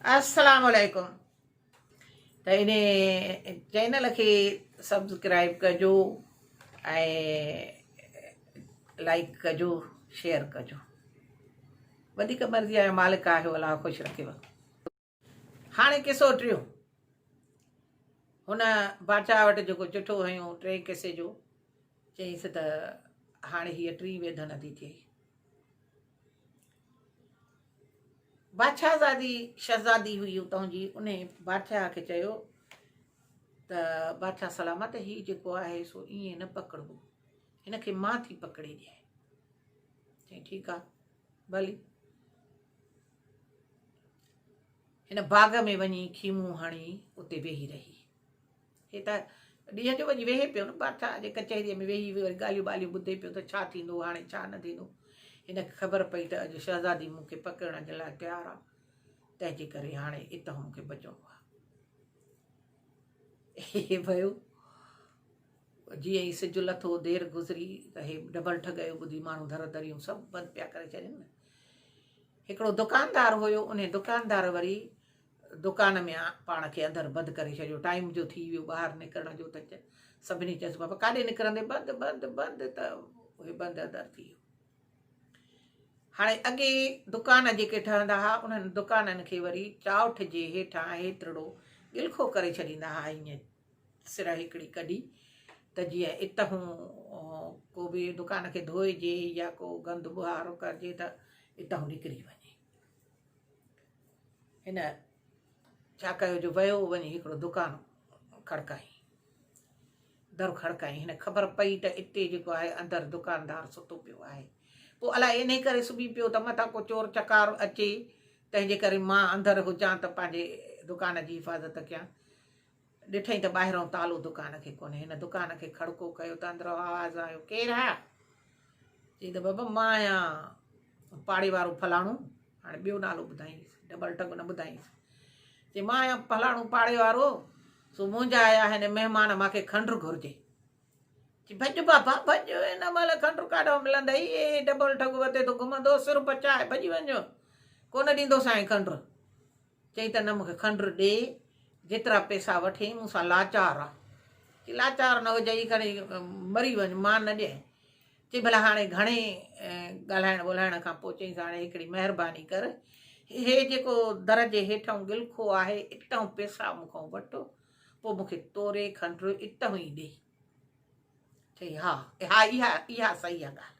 السلام عليڪم ته ان چينل کي سبسڪرائب ڪجو ۽ لائڪ ڪجو شيئر ڪجو وڌيڪ مرضي آهي مالڪ آهي ولا خوش رکيو هاڻي قصو ٽيون. هن باچا وٽ جيڪو چٺو هنيو ٽئين قصي جو، چيائينس ته هاڻي هيء ٽين ويڌن ادي ٿئي. باچاهزادي شهزادي هئي اتان جي، انهي باچا کي چيو ته باچا سلامت هي جيڪو آهي سو ائين نه پڪڙبو، هن کي مان ٿي پڪڙي ڏيانء. چيائين ٺيڪ آهي ڀلي. هن باغ ۾ وڃي خيمو هڻي اتي ويهي رهي. هي ته ڏينهن جو وڃي ويهي پيو نه بادشاهه اڄ ڪچهريء ۾ ويهي وري ڳالهيون ٻالهيون ٻڌي پيو ته ڇا ٿيندو هاڻي ڇا نه ٿيندو هن کي خبر پئي ته اڄ شهزادي مون کي پڪڙڻ جي لاء تيار آ تنهن جي ڪري هاڻي اتان مون کي بچڻو آ هي ويو جيئن ئي سج لٿو، دير گذري ته هي ڊبل ٺڳيو ٻڌي ماڻهو در دريون سڀ بند پيا ڪري ڇڏين. هڪڙو دڪاندار هيو، انهي دڪاندار وري دڪان ۾ پاڻ کي اندر بند ڪري ڇڏيو، ٽائيم جو ٿي ويو ٻاهر نڪرڻ جو ته سڀني چيس بابا ڪاڏي نڪرندين بند بند بند ته هي بند اندر ٿي ويو. هاڻي اڳي دڪان جيڪي ٺهندا ها انهن دڪانن کي وري چاؤٺ جي هيٺان هيترڙو گلخو ڪري ڇڏيندا ها ائين سرهه هڪڙي ڪڍي ته جيئن اتهون ڪو به دڪان کي ڌوئجي يا ڪو گند ٻهارو ڪرجي ته اتهون نڪري وڃي هن ڇا ڪيو جو ويو وڃي هڪڙو دڪان کڙڪائي در کڙڪائي هن خبر پئي ته اتي جيڪو آهي اندر دڪاندار ستو پيو آهي پوء الائي انهي ڪري سبي پيو ته مٿان ڪو چور چڪار اچي تنهنجي ڪري مان اندر هجان ته پنهنجي دڪان جي حفاظت ڪيان ڏٺئي ته ٻاهرئون تالو دڪان کي ڪونهي. هن دڪان کي کڙڪو ڪيو ته اندرئون آواز آيو، ڪير آ؟ چيائين ته بابا مان آهيان پاڙي وارو فلاڻو. هاڻي ٻيو نالو ٻڌائينس، ڊبل ٽنگ نه ٻڌائينس. چيائين مان آهيان فلاڻو پاڙي وارو، سو منهنجا آيا آهن مهمان، مان کي کنڊر گهرجي. چي ڀڄ بابا ڀڄ، هن مهل کنڊر ڪاڏئون ملندئي، هي ڊبل ٽنگ وتي ٿو گهمندو، سر پچائي ڀڄي وڃ، ڪونه ڏيندوسانء کنڊر. چيائين ته نه مون کي کنڊ ڏي، جيترا پئسا وٺين، مون سان لاچار آ. چي لاچار نه هجئي کڻي مري وڃ، مان نه ڏيئين. چي ڀلا هاڻي گهڻي ڳالهائڻ ٻولهائڻ کان پوء چيائينس هاڻي هڪڙي مهرباني ڪر، هي جيڪو در جي هيٺئون ڳلکو آهي، اتهون پئسا مون کان وٺ، پوء مون کي توري کنڊ اتهون ئي ڏي. چيائين ها، اها اها صحيح آ ڳالهه.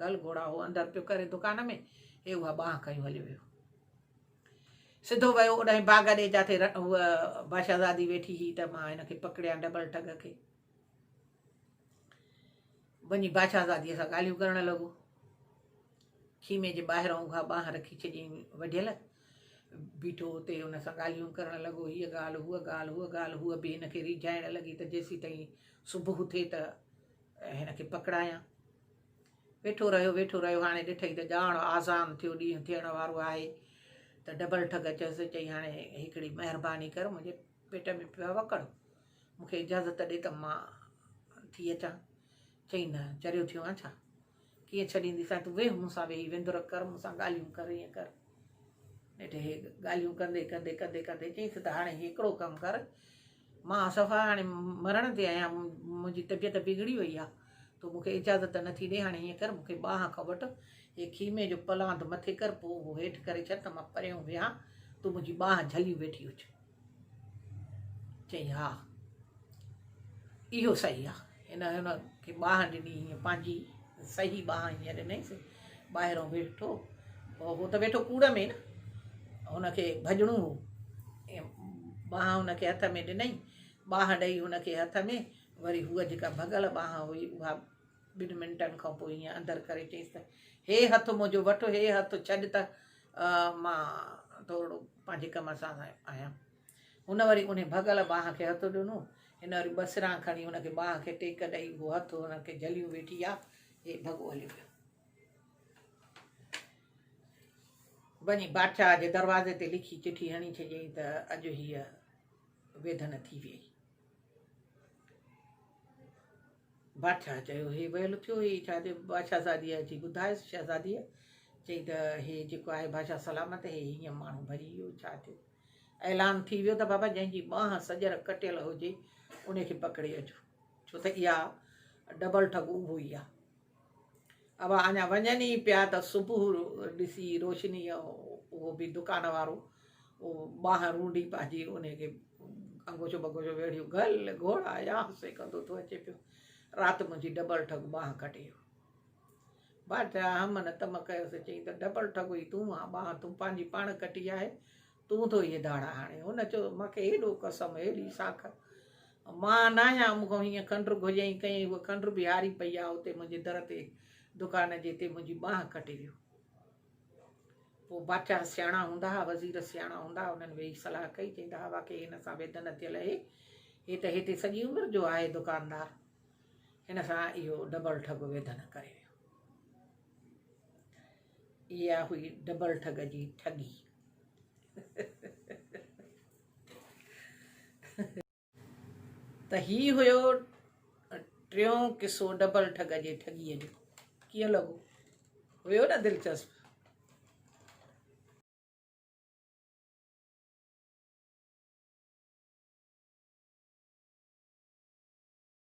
گل گهوڙا هو اندر پيو ڪري دڪان ۾ هي اها ٻانهن کنيو هليو ويو سڌو ويو اوڏانهن باغ ڏي جاٿي هوء بادشاهزادي ويٺي هئي ته مان هن کي پڪڙيان ڊبل ٽگ کي وڃي بادشاهزاديء سان ڳالهيون ڪرڻ لڳو خيمي جي ٻاهران اها ٻانهن رکي ڇڏيائين وڍيل بيٺو اتي هن سان ڳالهيون ڪرڻ لڳو هيء ڳالهه هوء ڳالهه هوء ڳالهه هوء به هن کي ريجھائڻ لڳي ته جيسي تائين صبح ٿئي ته ۽ هن کي پڪڙايان. ويٺو رهيو ويٺو رهيو هاڻي ڏٺئي ته ڄاڻ آذان ٿيو ڏينهن ٿيڻ وارو آهي ته ڊبل ٺڳ چيس چئي هاڻي هڪڙي مهرباني ڪر منهنجي پيٽ ۾ پيو آهي وڪڙ مون کي اجازت ڏي ته مان ٿي اچان چئي نه چريو ٿيو آهين ڇا ڪيئن ڇڏيندي سائين تون ويهه مون سان ويهي وندر ڪر مون سان ڳالهيون ڪر ائين ڪر نيٺ هي ڳالهيون ڪندي ڪندي ڪندي ڪندي چيس ته هاڻي هڪڙو ڪم ڪر مان صفا هاڻي مرڻ تي آهيان منهنجي طبيعت بگڙي وئي آهي تو مون کي اجازت نه ٿي ڏي هاڻي ائين ڪر مون کي ٻانهن کان وٺ هي خيمي جو پلاند مٿي ڪر پوء اهو هيٺ ڪري ڇڏ ته مان پريون ويهان تون منهنجي ٻانهن جهليون ويٺي هج چيائين، ها، اهو صحيح آ. هن هن کي ٻانهن ڏني، ائين پنهنجي صحيح ٻانهن ائين ڏنيس. ٻاهران ويٺو، هو ته ويٺو ڪوڙ ۾ نه، هن کي ڀڄڻو هو. ٻانهن هن کي هٿ ۾ ڏنئين، ٻانهن ڏئي هن کي هٿ ۾، وري هوء جيڪا ڀڳل ٻانهن هئي، اها ٻن منٽن کان پوء ائين اندر ڪري چيس ته، هي هٿ منهنجو وٺ، هي هٿ ڇڏ ته. مان ٿورڙو پنهنجي ڪم سان آهيان هن وري ان ڀڳل ٻانهن کي هٿ ڏنو هن وري ٻه سران کڻي هن کي ٻانهن کي ٽيڪ ڏئي هو هٿ هن کي جهليون ويٺي آ هي ڀڳو هليو ويو وڃي بادشاهه جي دروازي تي لکي چٺي هڻي ڇڏيائين ته اڄ هيء ويڌن ٿي ويئي بادشاهه چيو، هي ويل ٿيو هي ڇا چئي؟ بادشاهه زاديء اچي ٻڌايس. شهزاديء چئي ته، هي جيڪو آهي بادشاهه سلامت آهي. هي هينئن ماڻهو ڀڄي ويو، ڇا ٿيو؟ اعلان ٿي ويو ته بابا جنهن جي ٻانهن سڄر ڪٽيل هجي، ان کي پڪڙي اچو، ڇو ته اها ڊبل ٺڳو اهو ئي آهي. اڀا اڃا وڃن ئي پيا ته صبح ڏسي روشنيء اهو به دڪان وارو ٻانهن رونڊي پنهنجي ان کي انگوچو بگوچو ويڙهيو گل گهوڙا يا سي ڪندو ٿو اچي پيو رات منهنجي ڊبل ٺڳ ٻانهن ڪٽي ويو بادشاهه همن تم ڪيو سي چيائين ته ڊبل ٺڳ ئي تون آ ٻانهن تون پنهنجي پاڻ ڪٽي آهي تون ٿو اهي داڙا هاڻي. هن چيو، مان کي هيڏو قسم، هيڏي ساک، مان نه آهيان مون کان هيئن کنڊر گهجئين ڪئين، هوء کنڊر به هاري پئي آ اتي منهنجي در تي دڪان جي تي منهنجي ٻانهن ڪٽي ويو. پوء بادشاهه سياڻا هوندا ها، وزير سياڻا هوندا ها، انهن ويهي صلاح ڪئي، چئيندا ها واقعي هن سان ويڌ نه ٿيل اهي، هي ته هتي سڄي عمر جو آهي دڪاندار، هن سان اهو ڊبل ٺڳ ويڌ نه ڪري ويو. اها هئي ڊبل ٺڳ جي ٺڳي. ته هي هيو ٽيون قصو ڊبل ٺڳ جي ٺڳيء جو ڪيئن لڳو هيو نه دلچسپ